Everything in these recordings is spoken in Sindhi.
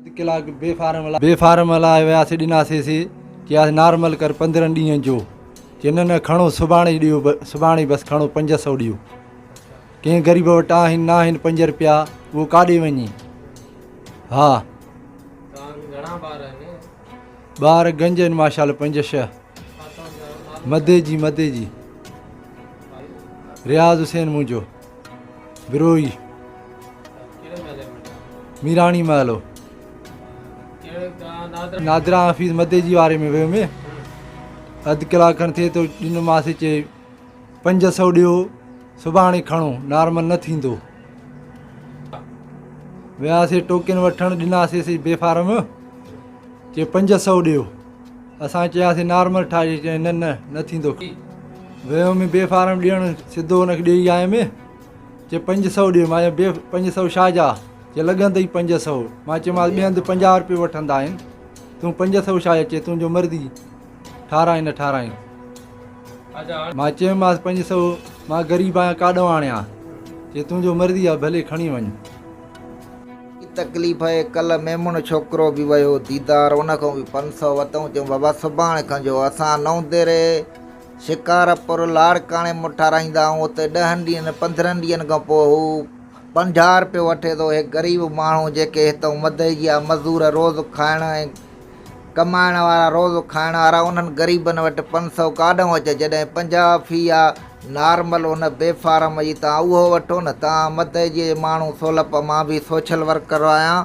اڌ ڪلاڪ بي فارم هلايو بي فارم هلايو وياسي ڏناسي سي چياسي نارمل ڪر پندرهن ڏينهن جو چي نه نه کڻو سڀاڻي ڏيو سڀاڻي بس کڻو پنج سو ڏيو ڪنهن غريب وٽ آهن نه آهن پنج رپيا اهو ڪاڏي وڃي ها ٻار گنج آهن ماشاء الله پنج شهه مدي جي مدي جي رياض حسين منهنجو بروهي ميراڻي محل هو نادرا حفيظ مدي جي واري ۾ ويو مي اڌ ڪلاڪ کن ٿئي ٿو ڏنو ماس چي پنج سو ڏيو سڀاڻي کڻو نارمل نه ٿيندو وياسي ٽوڪن وٺڻ ڏناسي سي بي فارم چي پنج سو ڏيو اسان چياسين نارمل ٺاهجي چيائين نه نه نه ٿيندو ويم بي فارم ڏيڻ سڌو ان کي ڏيئي آيم چي پنج سو ڏي مان بي پنج سو شاھ جا چي لڳندئي پنج سو مان چيمانس ٻي هنڌ پنجاهه روپيو وٺندا آهن تون پنج سو شاھ جا چي تنهنجو مرضي ٺاراين نه ٺاراين مان چيمانس پنج سو مان غريب آهيان ڪاڏو آڻيان چي تنهنجو مرضي آهي ڀلي کڻي وڃ تڪليف اهي ڪلهه ميمڻ ڇوڪرو به ويو ديدار ان کان به پنج سؤ وتئون چيم بابا سڀاڻي کان جو اسان نئون ديري شڪارپور لاڙڪاڻي مون ٺاراهيندا آهيون اتي ڏهن ڏينهن پندرهن ڏينهن کان پوء هو پنجاهه روپيو وٺي ٿو اهي غريب ماڻهو جيڪي هتئون مدئجيا مزور روز کائڻ ۽ ڪمائڻ وارا روز کائڻ وارا انهن غريبن وٽ پنج سئو ڪاڏنهن اچي جڏهن پنجاهه في آ نارمل ان بي فارم جي توهان اهو وٺو نه توهان مدئجي جي ماڻهو سولپ مان به سوشل ورڪر آهيان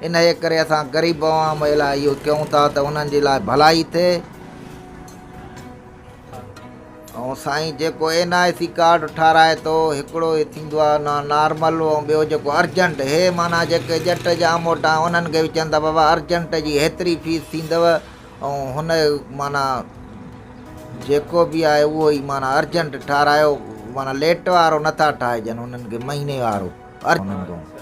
انهيء ڪري اسان غريب عوام جي لاء اهو ڪيون ٿا ته انهن جي لاء ڀلائي ٿئي. ۽ سائين جيڪو اين آء سي ڪارڊ ٺاراهي ٿو هڪڙو هي ٿيندو آهي نا نارمل ۽ ٻيو جيڪو ارجنٽ هي معنيٰ جيڪي ڄٽ جا اموٽا آهن انهن کي به چون ٿا بابا ارجنٽ جي هيتري فيس ٿيندو ۽ هن معنيٰ جيڪو به آهي اهو ئي معنيٰ ارجنٽ ٺاراهيو معنيٰ ليٽ وارو نٿا ٺاهجن انهن کي مهيني وارو